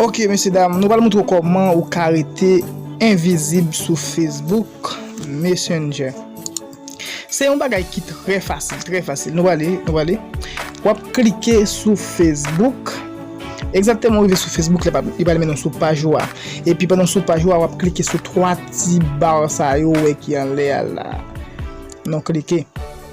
Ok mesye dam nou pral moutre w koman ou ka rete envizib sou Facebook Messenger Se yon bagay ki trè fasil trè fasil nou prale nou prale wap klike sou Facebook egzakteman ou rive sou Facebook la li pral mennen w sou paj ou a epi pandan w sou paj ou a wap klike sou 3 ti bar sa yo ou wè ki anlè a la nou klike.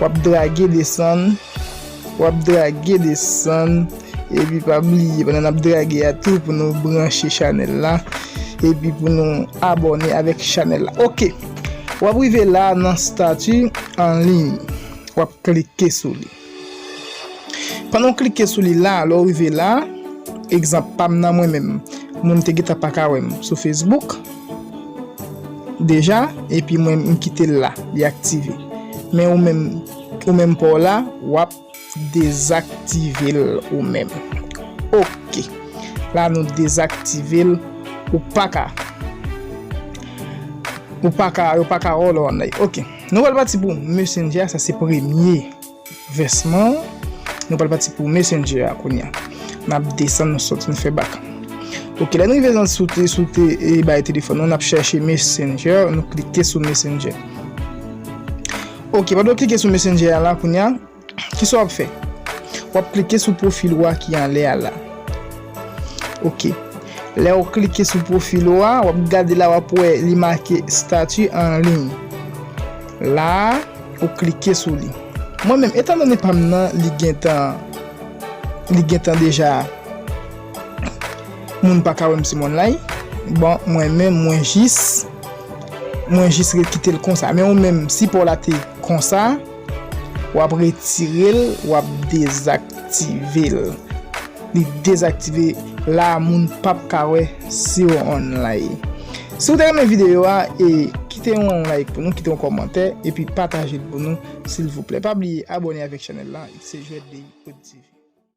Wap drage desann Wap drage desann Epi pa bliye pandan nap drage a tou pou nou branche chanèl la Epi pou nou abòne avèk chanèl la ok Wap rive la nan stati an liy Wap klike sou li Pandan w klike sou li la lè w rive la Egzanp pam nan mwen menm Moun te gentan paka wèm sou Facebook. Deja epi mwen m kitel la li aktive men ou menm ou menm paw la wap dezaktivel ou menm ok la nou dezaktivel ou paka ou paka yo paka wè w lè wap nan ok nou pral pati pou messenger sa se premye. Vèsman an, nou pral pati pou Messenger a kounya. Nap desann nou sot nou fè bak. Ok lè nou rive nan sou te sou te e bay telefòn nou nap chèche Messenger nou klike sou Messenger. Ok pandan w klike sou Messenger a la kounya kisa wap fè? Wap klike sou pwofil ou a ki anlè a la. Ok lè ou klike sou pwofil ou a wap gade la wap wè li make statut en ligne. La a ou klike sou li. Mwen menm etan done pam nan li gentan li gentan deja moun paka wèm sou moun lay bon mwen menm mwen jis mwen jis ret kitel konsa men ou menm si paw la te konsa wap retirel wap dezaktivel. li dezaktive la moun pap ka wè siw online si ou te renmen video a e kite yon like pou nou kite yon kòmantè epi patajel pou nou silvouplè pa bliye abòne avèk chanèl la xjwètdeyprodtv.